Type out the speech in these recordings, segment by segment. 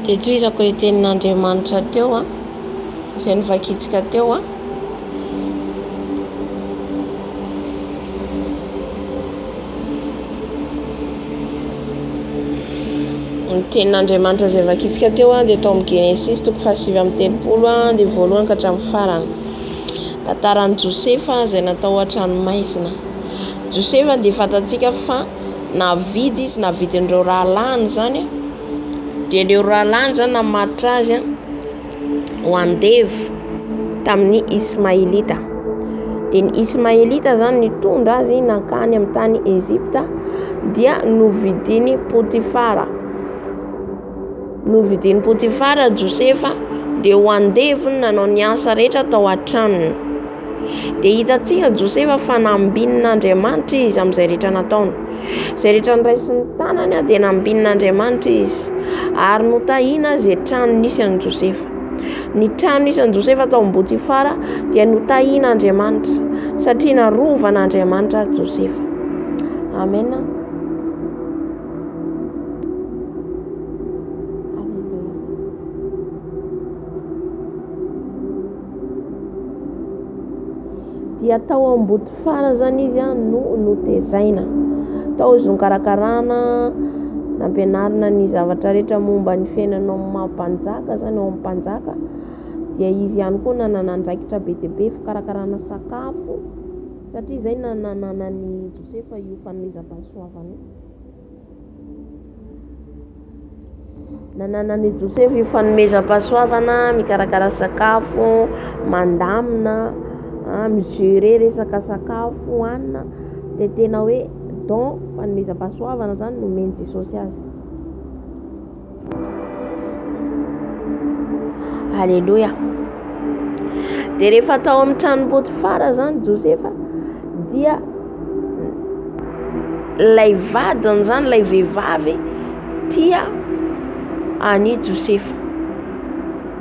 Dia tohizako ilay tenin'Andriamanitra teo a, izay novakintsika teo a. Ny tenin'Andriamanitra izay vakintsika teo a dia tao amin'ny Genesisy toko fahasivy amby telopolo a, dia voalohany ka hatramin'ny farany. Tantaran'i Josefa izay natao an-tranomaizina. Josefa dia fantatsika fa navidy izy, navidin'ireo rahalahiny izany dia ireo rahalahiny izany namatotra azy ho andevo tamin'ny Ismaelita. Dia ny Ismaelita izany nitondra azy nankany amin'ny tany Ejipta dia novidin'i Potifara. Novidin'i Potifara Josefa dia ho andevo ny nanao ny asa rehetra tao an-tranony. Dia hitantsika Josefa fa nambinin'Andriamanitra izy amin'izay rehetra nataony. Izay rehetra noraisin'ny tanany dia nambinin'Andriamanitra izy. Ary notahina izay trano nisy an'i Josefa. Ny trano nisy an'i Josefa tao amin'i Potifara dia notahin'Andriamanitra satria narovan'Andriamanitra Josefa. Amena. dia tao Ambodifara zany izy no notezaina. Tao izy nokarakarana, nampianarina ny zavatra rehetra momba ny fiainana ao amin'ny maha mpanjaka zany ao amin'ny mpanjaka. Dia izy ihany koa nanana andraikitra be dia be fikarakarana sakafo satria izay no nananan'i Josefa io fanomezam-pahasoavana io. Nananan'i Josefa io fanomezam-pahasoavana mikarakara sakafo, mandamina, mi-gerer resaka sakafo hohanina dia tena hoe don fanomezam-pahasoavana izany no nomen'i Jesosy azy. Aleloia. Dia rehefa tao amin'ny trano Potifara izany Josefa dia ilay vadiny izany ilay vehivavy tia an'i Josefa.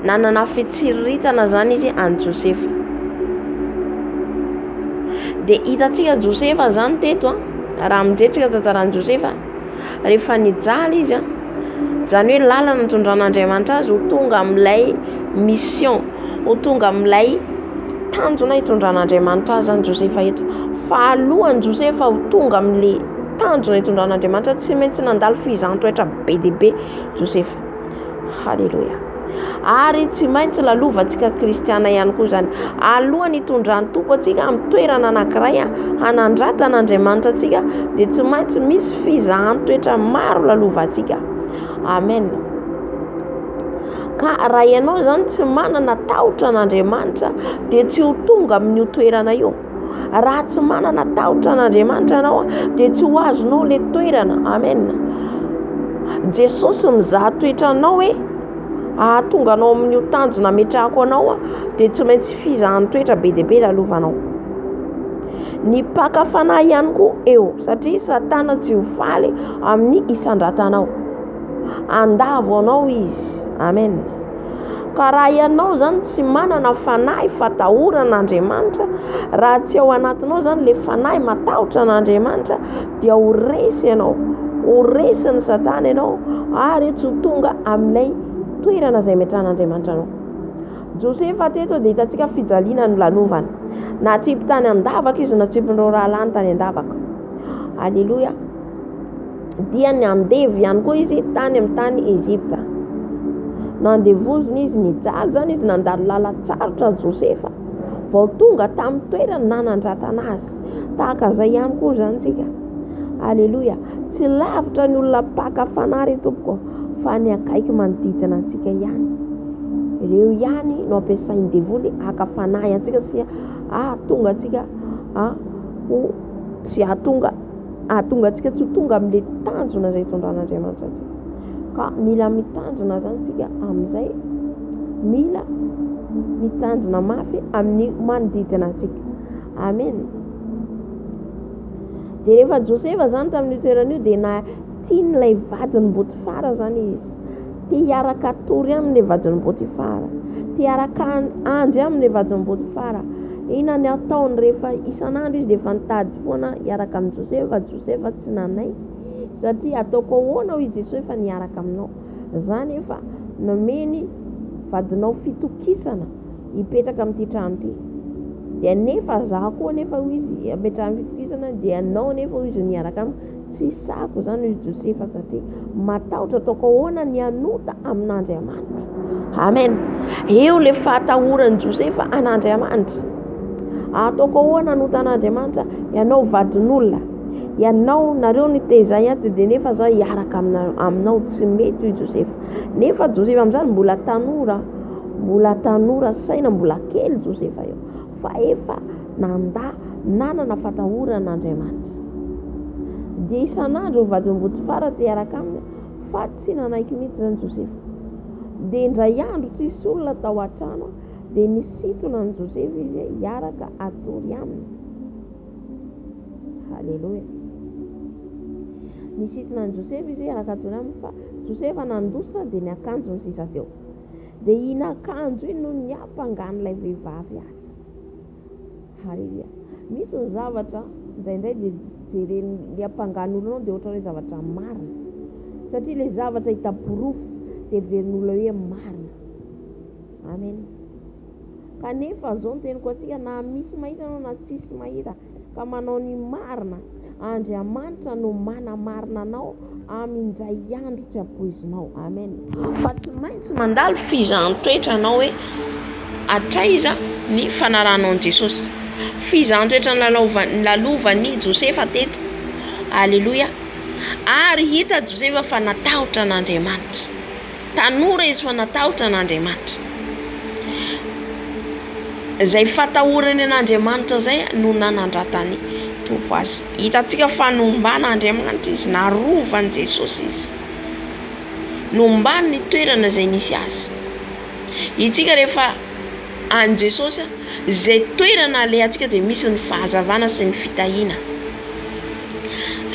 Nanana fitsiriritana izany izy an'i Josefa. Dia hitantsika Josefa izany teto raha mijetrika tantaran'i Josefa. rehefa nijaly izy an, izany hoe lalana nitondran'Andriamanitra azy ho tonga amin'ilay mission, ho tonga amin'ilay tanjona hitondran'Andriamanitra azy zany Josefa eto. Fa alohan'i Josefa ho tonga amin'ilay tanjona hitondran'Andriamanitra tsy maintsy nandalo fihizantoetra be dia be Josefa. Haleloia. Ary tsy maintsy lalovantsika kristiana ihany koa izany. Alohan'ny hitondran'ny Tompo antsika amin'ny toerana anankiray hanandrata an'Andriamanitra antsika dia tsy maintsy misy fizahan toetra maro lalovantsika. Amen. Ka raha ianao izany tsy manana tahotra an'Andriamanitra dia tsy ho tonga amin'io toerana io. Raha tsy manana tahotra an'Andriamanitra ianao dia tsy ho azonao ilay toerana. Amen. Jesosy mizaha toetra anao hoe ahatonga anao amin'io tanjona ametrahako anao dia tsy maintsy fizahan'ny toetra be dia be lalovanao. Ny mpaka fanahy ihany koa eo satria satana tsy ho faly amin'ny isandratanao. Andavo anao izy. Amen. Ka raha ianao izany tsy manana fanahy fatahorana Andriamanitra, raha tsy ao anatinao izany ilay fanahy matahotra an'Andriamanitra dia ho resy ianao, ho resin'i Satana ianao ary tsy ho tonga amin'ilay toerana izay ametrahan'Andriamanitra anao. Josefa teto dia hitantsika fijaliana nolalovany. Natsipy tany an-davaka izy, natsipin'ireo rahalahiny tany an-davaka. Aleloia. dia ny andevo ihany koa izy tany amin'ny tany Egypta. Nandevozina izy nijaly izany izy nandalo lalan-tsarotra Josefa vao tonga tamin'ny toerany nanandratana azy. Tahaka izay ihany koa izany tsika. Aleloia. Tsy lavitra ny olona mpaka fanahy ry tompoko fa ny akaiky manodidina antsika ihany. Ireo ihany no ampiasain'ny devoly haka fanahy antsika sy ahatonga antsika ho tsy ahatonga hahatonga antsika tsy ho tonga amin'ilay tanjona izay hitondran'Andriamanitra antsika. Ka mila mitandrina izany isika amin'izay, mila mitandrina mafy amin'ny manodidina antsika. Amen. Dia rehefa Josefa izany tamin'io toerana io dia na Tian'ilay vadin'i Botifara izany izy. Te hiaraka hatory aminy ilay vadin'i Botifara. Te hiaraka handry aminy ilay vadin'i Botifara. Inona ny ataony rehefa isan'andro izy dia efa nitady foana hiaraka amin'i Josefa, Josefa tsy nanaiky satria ataoko ahoana hoy Jesoa efa niaraka aminao. Izany efa nomeny vadinao fitokisana hipetraka amin'ity trano ity. Dia nefa izaho koa nefa hoy izy ametrahany fitokisana dia ianao nefa hoy izy no hiaraka amiko. Tsy hisahako izany, hoy Josefa, satria matahotra ataoko ahoana ny hanota amin'Andriamanitro. Amen. Eo ilay fahatahoran'i Josefa an'Andriamanitra. Ataoko ahoana hanota an'Andriamanitra? Ianao vadin'olona, ianao nareo ny tezay ato dia nefa za hiaraka aminao tsy mety hoy Josefa. Nefa Josefa amin'izany mbola tanora, mbola tanora saina, mbola kely Josefa eo. fa efa nandà nanana fatahorana Andriamanitra. Dia isan'andro ny vadin'i Botifara te hiaraka aminy fa tsy nanaiky mihitsy izany Josefa. Dia indray andro tsisy olona tao an-trano dia nisintona an'i Josefa izy hiaraka hatory aminy. Haleloia. Nisintona an'i Josefa izy hiaraka hatory aminy fa Josefa nandositra dia ny akanjony sisa teo. dia iny akanjo iny no niampangan'ilay vehivavy azy. Haleloia. Misy ny zavatra indraindray dia jeren'ny niampangan'olona anao dia ohatran'ny hoe zavatra marina. Satria ilay zavatra hita porofo dia heverin'olona hoe marina. Amen. Kanefa izao ny teniko antsika na misy mahita anao na tsisy mahita ka manao ny marina, Andriamanitra no manamarina anao amin' indray andro tsy ampoizinao. Amen. Fa tsy maintsy mandalo fizahan-toetra anao hoe hatraiza ny fanaranao an'i Jesosy. Fizahan-toetra nilalaovan, nilalovan-i Josefa teto. Aleloia. Ary hita Josefa fa natahotra an'Andriamanitra. Tanora izy fa natahotra an'Andriamanitra. Izay fatahorany an'Andriamanitra izay no nanandratany Tompo azy. Hitantsika fa nomban'Andriamanitra izy, narovan'i Jesosy izy. Nombany ny toerana izay nisy azy. Isika rehefa any Jesosy, izay toerana alehantsika dia misy ny fahazavana sy ny fitahiana.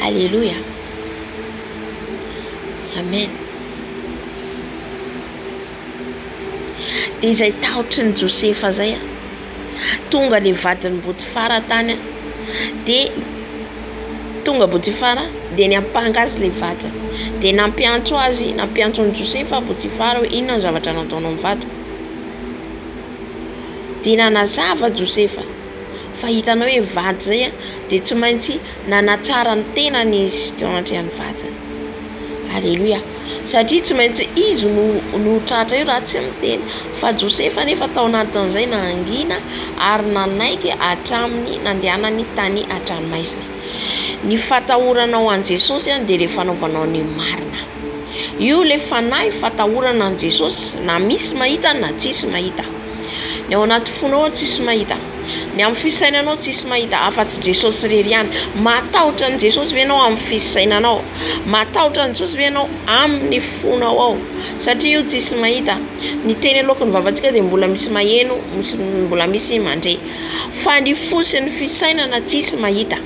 Aleloia. Amen. Dia izay tahotry ny Josefa izay a! Tonga ilay vadin'i Botifara tany a! Dia tonga Botifara dia niampanga azy ilay vadiny. Dia nampiantso azy, nampiantso an'i Josefa Botifara hoe inona no zavatra nataonao ny vadiko? Dia nanazava Josefa fa hitanao hoe vady izay a! Dia tsy maintsy. Nanatsara ny tenany izy teo andrean'ny vadiny. Aleloia. Satria tsy maintsy izy no no tratra eo raha tsy miteny. Fa Josefa anefa tao anatin'izay nangina ary nanaiky hatramin'ny nandehanany tany an-tranomaizina. Ny fatahoranao an'i Jesosy an dia ilay fanaovanao ny marina. Io ilay fanahy fatahorana an'i Jesosy na misy mahita na tsisy mahita. Ny ao anaty fonao an tsisy mahita. Ny amin'ny fisainanao tsisy mahita afatsy Jesosy irery ihany. Matahotra an'i Jesosy ve ianao amin'ny fisainanao? Matahotra an'i Jesosy ve ianao amin'ny fonao ao? Satria io tsisy mahita. Ny teny aloaky ny vavantsika dia mbola misy maheno, misy mbola misy mandre. Fa ny fo sy ny fisainana tsisy mahita.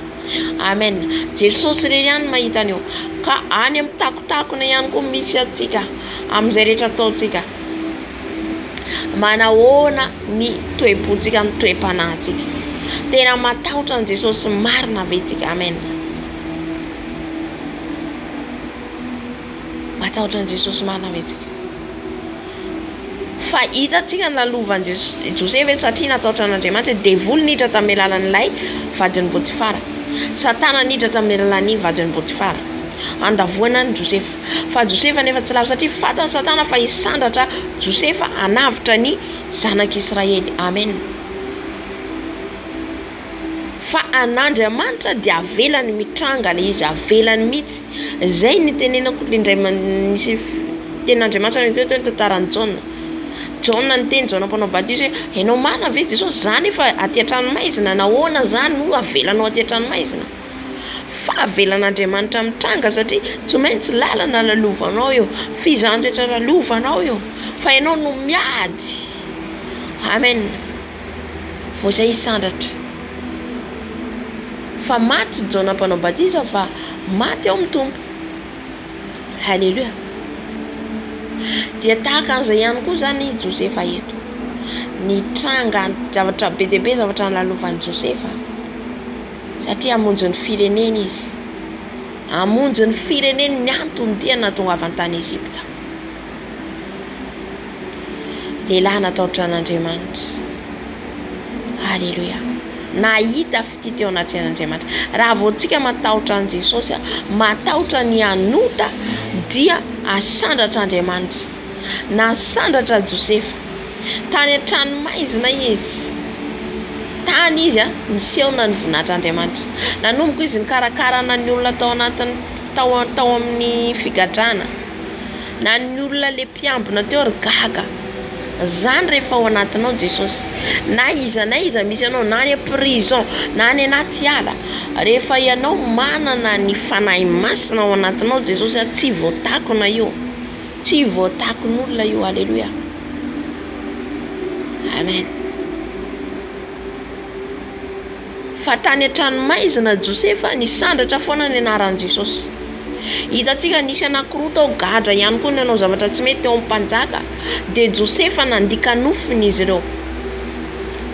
Amen. Jesosy irery ihany mahita an'io. Ka any amin'ny takontakona ihany koa misy antsika, amin'izay rehetra ataontsika. Manahoana ny toe-pontsika amin'ny toe-panahintsika? Tena matahotra an'i Jesosy marina ve tsika? Amen. Matahotra an'i Jesosy marina ve tsika? Fa hitantsika ny lalovan'i Jesosy, Josefa hoe satria natahotra an'Andriamanitra, devoly niditra tamin'ny alalan'ilay vadin'i Potifara, Satana niditra tamin'ny alalan'ny vadin'i Potifara, handavoana an'i Josefa. Fa Josefa anefa tsy lavo, satria fantan'i Satana fa hisandratra Josefa hanavotra ny zanak'Israely. Amen. Fa an'Andriamanitra dia avelany mitranga ilay izy, avelany mihitsy. Izay no itenenako le indray nisy tenin'Andriamanitra teo teo ny tantaran'i Jaona. Jaona niteny, Jaona mpanao batisa hoe, Enao marina ve Jesosy? Za anefa aty an-tranomaizina, nahoana zany no avelanao aty an-tranomaizina? fahavelan'Andriamanitra mitranga satria tsy maintsy lalana lalovanao eo, fizan-toetra lalovanao eo fa ianao no miady amen vao izay hisandratra fa maty Jaona mpanao batisa fa maty ao amin'ny Tompo haleloia dia tahaka an'izay ihany koa izany i Josefa eto nitranga zavatra be dia be zavatra nolalovan'i Josefa Satria hamonjy ny fireneny izy. Hamonjy ny fireneny ny antony ity anatongavany tany Egypta. Lehilahy natahotra an'Andriamanitra. Aleloia. Nahita fitia teo anatrehan'Andriamanitra. Raha vao tsika matahotra an'i Jesosy, matahotra ny hanota, dia asandratra Andriamanitra. Nasandratra Josefa. Tany an-tranomaizina izy. Tany izy niseho na ny voninahitr'Andriamanitra. Nanomboka izy nikarakarana ny olona tao anatin'ny tao tao amin'ny figadrana. Na ny olona le mpiambina teo ary gaga. Zany rehefa ao anatinao Jesosy. Na iza na iza misy anao na any am-prison na any anaty ala. Rehefa ianao manana ny Fanahy Masina ao anatinao Jesosy tsy voatakona io. Tsy voatakon'olona io Alléluia Amen Fa tany an-tranomaizina Josefa nisandratra foana ny anaran'i Jesosy Hitantsika nisy anankiroa tao gadra ihany koa nanao zavatra tsy mety teo amin'ny mpanjaka Dia Josefa nandika nofiny izy ireo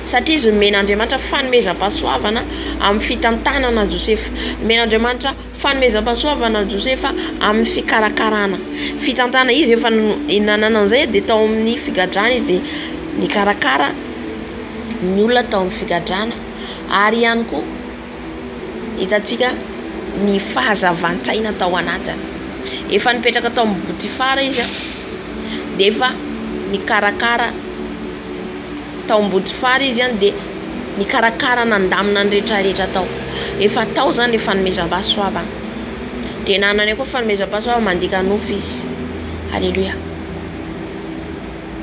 Satria izy nomen'Andriamanitra fanomezam-pahasoavana amin'ny fitantanana Josefa Nomen'Andriamanitra Fanomezam-pahasoavana Josefa amin'ny fikarakarana fitantana izy efa nanana an'izay dia tao amin'ny figadrana izy dia nikarakara ny olona tao amin'ny figadrana ary ihany koa hitantsika ny fahazavan-tsaina tao anatiny efa nipetraka tao amin'ny botifara izy dia efa nikarakara tao Ambodifara izy an dia nikarakara nandamina ny retraretra tao efa tao zany le fanomezam-pahasoavana dia nanana koa fanomezam-pahasoavana mandika nofo izy aleloia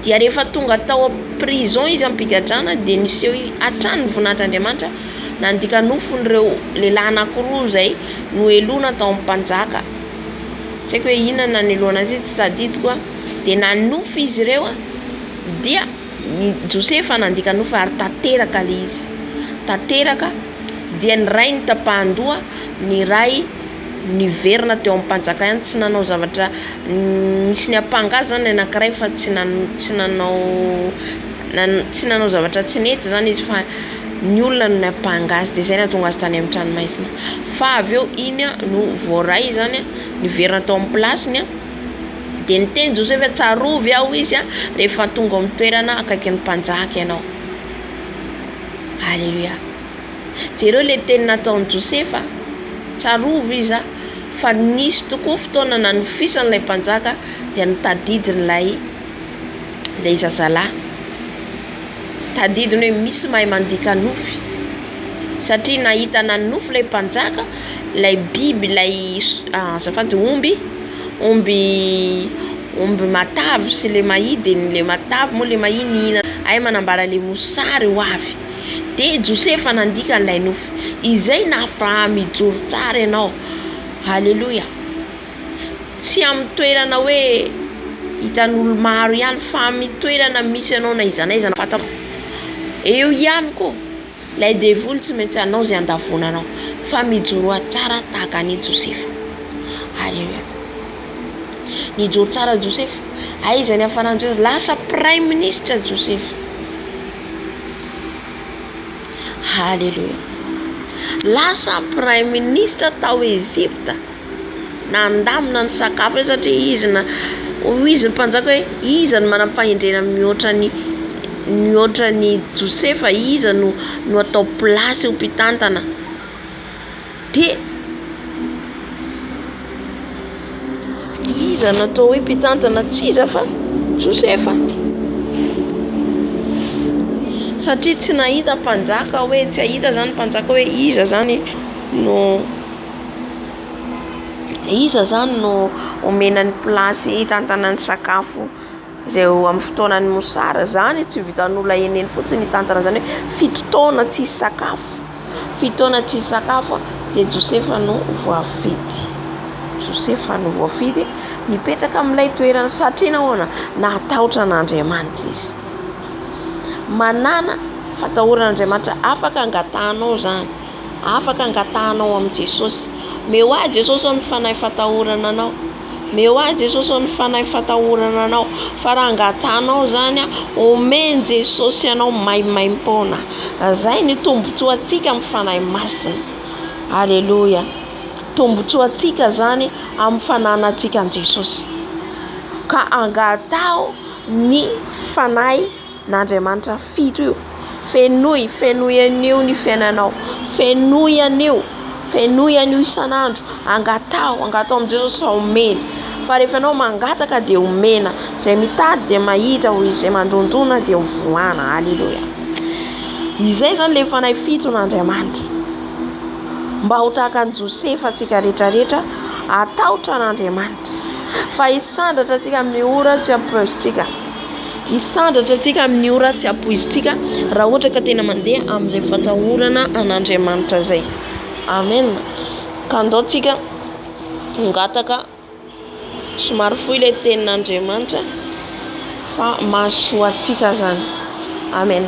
dia rehefa tonga tao prison izy am-pigadrana dia niseho hatrany ny voninahitr'Andriamanitra nandika nofon'ireo lehilahy anankiroa izay noheloina tao amin'ny mpanjaka tsy haiko hoe inona no naneloana azy io tsy tadidiko dia nanofy izy ireo dia ny Josefa nandika nofy ary tanteraka le izy tanteraka dia ny ray ny tapahandoha ny ray niverina teo ampanjakany tsy nanao zavatra nisy ny ampanga azy zany ny anakiray fa tsy tsy nanao tsy nanao zavatra tsy nety zany izy fa ny olona no niampanga azy de zay nahatonga azy tany amin'ny tranomaizina fa avy eo iny no voaray zany niverina tao amin'ny plasiny Dia niteny Josefa hoe, Tsarovy aho izy rehefa tonga ao amin'ny toerana akaikin'ny mpanjaka ianao. Aleloia. Jereo ilay teny nataon'i Josefa, tsarovy izy fa nisy tokoa fotoana nanofisany ilay mpanjaka dia nitadidiny ilay ilay zazalahy. Tadidiny hoe misy mahay mandika nofy satria nahita nanofy ilay mpanjaka. ilay biby ilay azafady omby omby omby matavy sy ilay mahia dia ilay matavy moa ilay mahia nihinana hay manambara ilay mosary ho avy dia Josefa nandika ilay nofy izay nahafaha mijoro tsara ianao haleloia tsy amin'ny toerana hoe hitan'olo maro ihany fa amin'ny toerana misy anao na aiza na aiza eo ihany koa Ilay devoly tsy maintsy hanao izay handavonanao, fa mijoroa tsara tahaka an' i Josefa. Aleloia. Nijoro tsara Josefa. Aiza niafaran'i Josefa? Lasa praiminisitra Josefa. Aleloia. Lasa praiminisitra tao Ezipta. nandamina ny sakafo eo satria izy na hoy izy ny mpanjaka hoe iza no manam-pahendrena mihoatra ny mihoatra an'i Josefa iza no no atao plasy ho mpitantana de iza no atao hoe mpitantana tsy iza fa Josefa satria tsy nahita mpanjaka hoe tsy hahita zany mpanjaka hoe iza zany no Iza zany no omena ny place hitantana ny sakafo izay eo amin'ny fotoanan'ny mosary. Zany tsy ho vitan'olona eny eny fotsiny hitantana izany hoe fito taona tsisy sakafo, fito taona tsisy sakafo dia Josefa no voafidy. Josefa no voafidy hipetraka amin'ilay toerana satria nahoana? Natahotra an'Andriamanitra izy. Manàna fatahoran'Andriamanitra afaka angatahanao zany. afaka angatahanao amin'i Jesosy. Meo ahy Jesosy ô ny fanahy fatahorana Anao. Meo ahy Jesosy ô ny fanahy fatahorana Anao. Fa raha angatahanao izany, omen'i Jesosy anao maimaim-poana. Izay no tombontsoantsika amin'ny Fanahy Masina. Aleloia. Tombontsoantsika izany amin'ny fananantsika an'i Jesosy. Ka angataho ny Fanahy. n'Andriamanitra fito io. Fenoy, fenoy an'io ny fiainanao, fenoy an'io, fenoy an'io isan'andro, angataho, angataho amin'i Jesosy fa omeny, fa rehefa ianao mangataka dia omena, izay mitady dia mahita, hoy izy, izay mandondona dia hovoahana, aleloia, izay izany ilay fanahy fito n'Andriamanitra, mba ho tahaka an'i Josefa antsika rehetra rehetra, hatahotra an'Andriamanitra, fa hisandratra antsika amin'ny ora tsy ampoizintsika. Hisandratra antsika amin'ny ora tsy ampoizintsika raha ohatra ka tena mandeha amin'izay fatahorana an'Andriamanitra izay. Amen. Ka andao tsika hangataka somary fohy ilay tenin'Andriamanitra fa mahasoa antsika zany. Amen.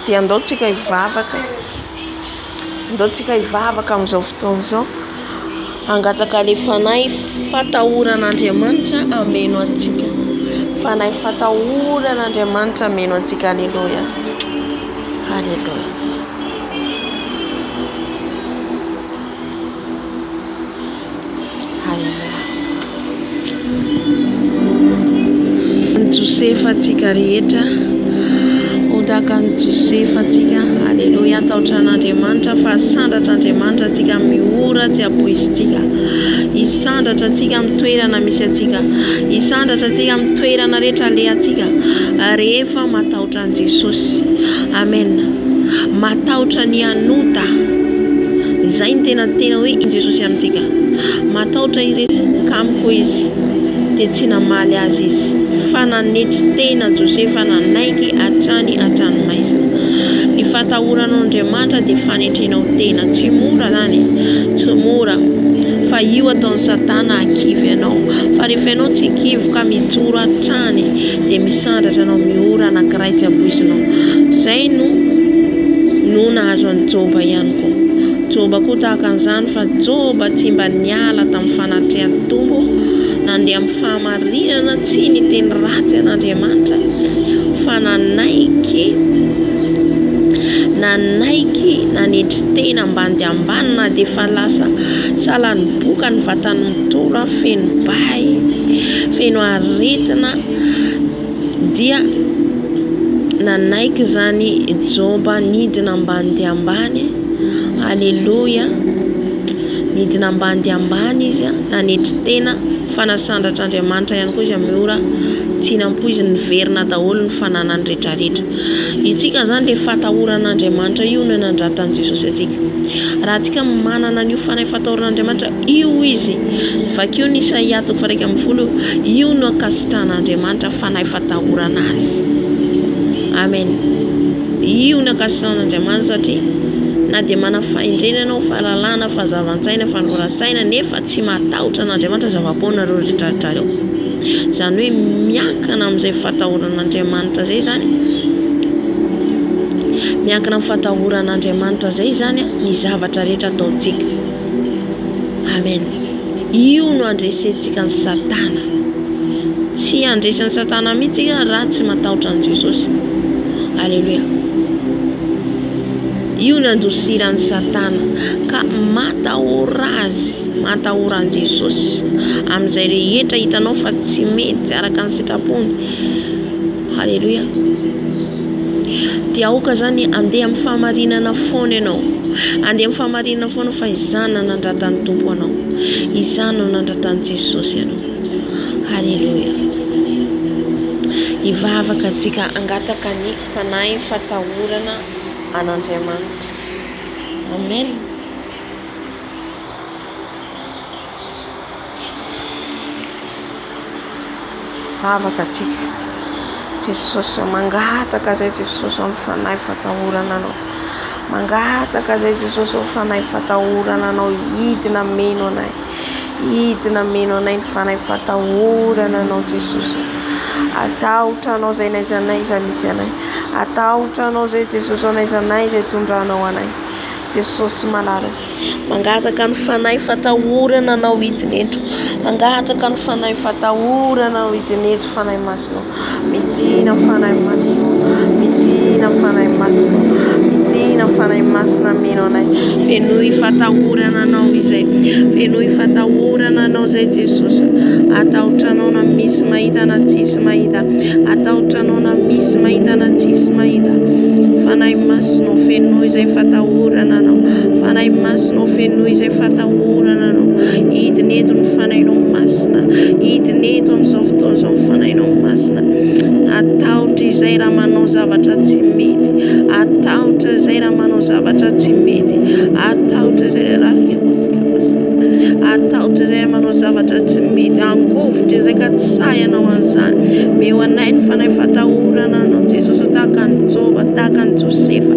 Dia andao tsika hivavaka. Andao tsika hivavaka amin'izao fotoana izao, hangataka le fanahy fatahorana Andriamanitra hameno antsika. Fanahy fatahorana Andriamanitra hameno antsika. Aleloia. Aleloia. Haleloia. Ny Josefa antsika rehetra, ho tahaka ny Josefa antsika. Haleloia. Atahotra an'Andriamanitra fa sandratra Andriamanitra antsika amin'ny ora tsy ampoizintsika. Hisandratra antsika amin'ny toerana misy antsika. Hisandratra antsika amin'ny toerana rehetra alehantsika rehefa matahotra An Jesosy. Amen matahotra ny hanota zay ny tena tena hoe in Jesosy amintsika matahotra irery ka amiko izy de tsy namaly azy izy fa nanetry tena Josefa nanaiky hatrany hatrany maizina ny fatahoranao Andriamanitra de fanetrenao tena tsy mora zany tsy mora fa io ataon'ny satana akivy anao fa rehefa ianao tsy kivy ka mijoro hatrany de Sandratra anao Miora anankiray tsy ampoizinao Zay no no nahazo an'i Joba ihany koa Joba koa tahaka an'izany fa Joba tsy mba niala tamin'ny fanatrehan'ny Tompo nandeha amin'ny fahamarinana tsy niteny ratsy an'Andriamanitra fa nanaiky nanaiky nanetry tena ambany dia ambany na dia efa lasa salan'ny boka ny vatany mitora feno bay feno aretina dia nanaiky izany Joba nidina ambany dia ambany, aleloia, nidina ambany dia ambany izy nanetry tena fa nasandratra Andriamanitra ihany koa izy amin'ny ora tsy hinam-po izy, niverina daholo ny fananany retraretra, isika izany dia fatahorana Andriamanitra io no nandratan'i Jesosy antsika, raha antsika manana an'io fanahy fatahoran'Andriamanitra. Io hoy izy, vakio ny Isaia toko faha-iraika ambin'ny folo, io no ankasitran'Andriamanitra fanahy fatahorana azy. Amen. Io no ankasitran'Andriamanitra satria na dia manana fahendrena ianao, fahalalana, fahazavan-tsaina, fanoran-tsaina nefa tsy matahotra an'Andriamanitra zava-poanareo retraretra reo. Izany hoe miankina amin'izay fatahoran'Andriamanitra izay izany, miankina amin'ny fatahoran'Andriamanitra izay izany ny zavatra rehetra ataontsika. Amen. Io no andresentsika ny satana. Tsy handresan'ny satana mihintsy tsika raha tsy matahotra an'i Jesosy. Aleloia. Io no andosiran'ny satana ka matahora azy, matahora an'i Jesosy amin'izay rehetra hitanao fa tsy mety araka ny sitrapony. Haleloia! Dia aoka izany handeha amin'ny fahamarinana foana ianao. Handeha amin'ny fahamarinana foana fa izany no nanandratan'ny Tompo anao. Izany no nanandratan'i Jesosy anao. Haleloia! Hivavaka antsika hangataka ny fanahy fatahorana an'Andriamanitra. Amen. Vavaka atsika Jesosy ô mangataka zay Jesosy ô fanahy fatahorana anao mangataka zay Jesosy ô fanahy fatahorana anao hidina meno anay hidina meno anay ny fanahy fatahorana anao Jesosy atahotra anao zay n'aiza n'aiza misy anay atahotra anao zay Jesosy ô n'aiza n'aiza itondranao anay Jesosy malala ô Mangataka ny Fanahy fatahorana anao hidina eto Mangataka ny Fanahy fatahorana anao hidina eto Fanahy Masina ô Midina Fanahy Masina ô Midina Fanahy Masina ô Midina Fanahy Masina Ameno anay Fenoy fatahorana anao izay Fenoy fatahorana anao izay Jesosy ô Atahotranao na misy mahita na tsisy mahita Atahotra anao na misy mahita na tsisy mahita Fanahy Masonao fenoy izay fatahorana anao Fanahy Masonao fenoy izay fatahorana anao Hidina eto ny Fanahinao Masina Hidina eto amin'izao fotoana izao ny Fanahinao Masina Atahotra izay raha manao zavatra tsy mety Atahotra izay raha manao zavatra tsy mety Atahotra izay raha Atahotra izay manao zavatra tsy mety, angovitra izay ka tsy sahy hanao an'izany. Omeo anay ny fanahy fatahorana Anao Jesosy ô, tahaka an'i Joba, tahaka an'i Josefa.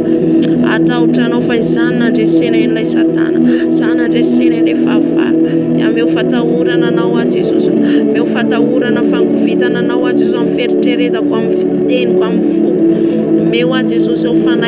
Atahotra Anao fa izany no handresena ilay Satana, izany no handresena ilay fahavalo. Omeo fatahorana Anao aho Jesosy ô, omeo fatahorana, fangovitana Anao aho Jesosy amin'ny fieritreretako, amin'ny fiteniko, amin'ny foko. Omeo aho Jesosy ô, fanahy.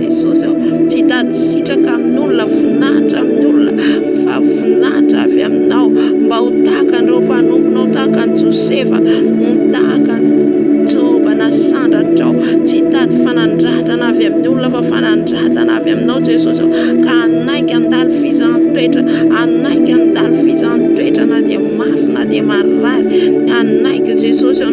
Jesosy aho, tsy hitady sitraka amin'olona, voninahitra amin'olona, fa voninahitra avy aminao, mba ho tahaka an'ireo mpanomponao, tahaka an'i Josefa, ho tahaka an'i Joba nasandratrao, tsy hitady fanandratana avy amin'ny olona, fa fanandratana avy aminao Jesosy aho, ka hanaiky handalo fizaham-petra, hanaiky handalo fizaham-petra na dia mafy na dia marary, hanaiky Jesosy aho,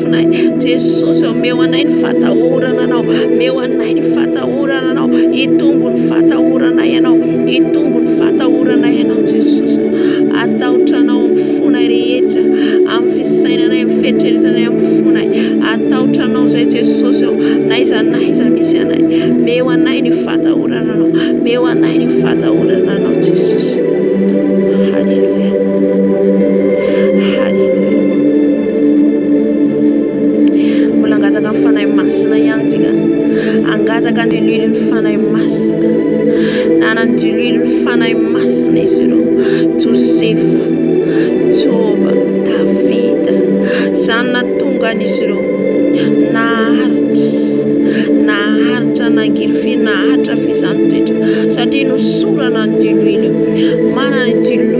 anay. Jesosy ô, meo anay ny fatahorana Anao, meo anay ny fatahorana Anao, hitombo ny fatahorana Ianao, hitombo ny fatahorana Ianao Jesosy. Atahotra Anao amin'ny fonay rehetra, amin'ny fisainanay, amin'ny fieritreretanay, amin'ny fonay. Atahotra Anao izay Jesosy ô, na iza na iza misy anay. Meo anay ny fatahorana Anao, meo anay ny fatahorana Anao Jesosy. Haleluia. Haleluia. Mbola hangataka ny Fanahy Masina ihany tsika. Hangataka ny diloilon'ny Fanahy Masina. Nanana ny diloilon'ny Fanahy Masina izy ireo. Josefa, Joba, Davida. Izany nahatongan'izy ireo naharitra, naharitra nangirify, naharitra fizahantena satria nosorana ny diloilo. Manana ny diloilo.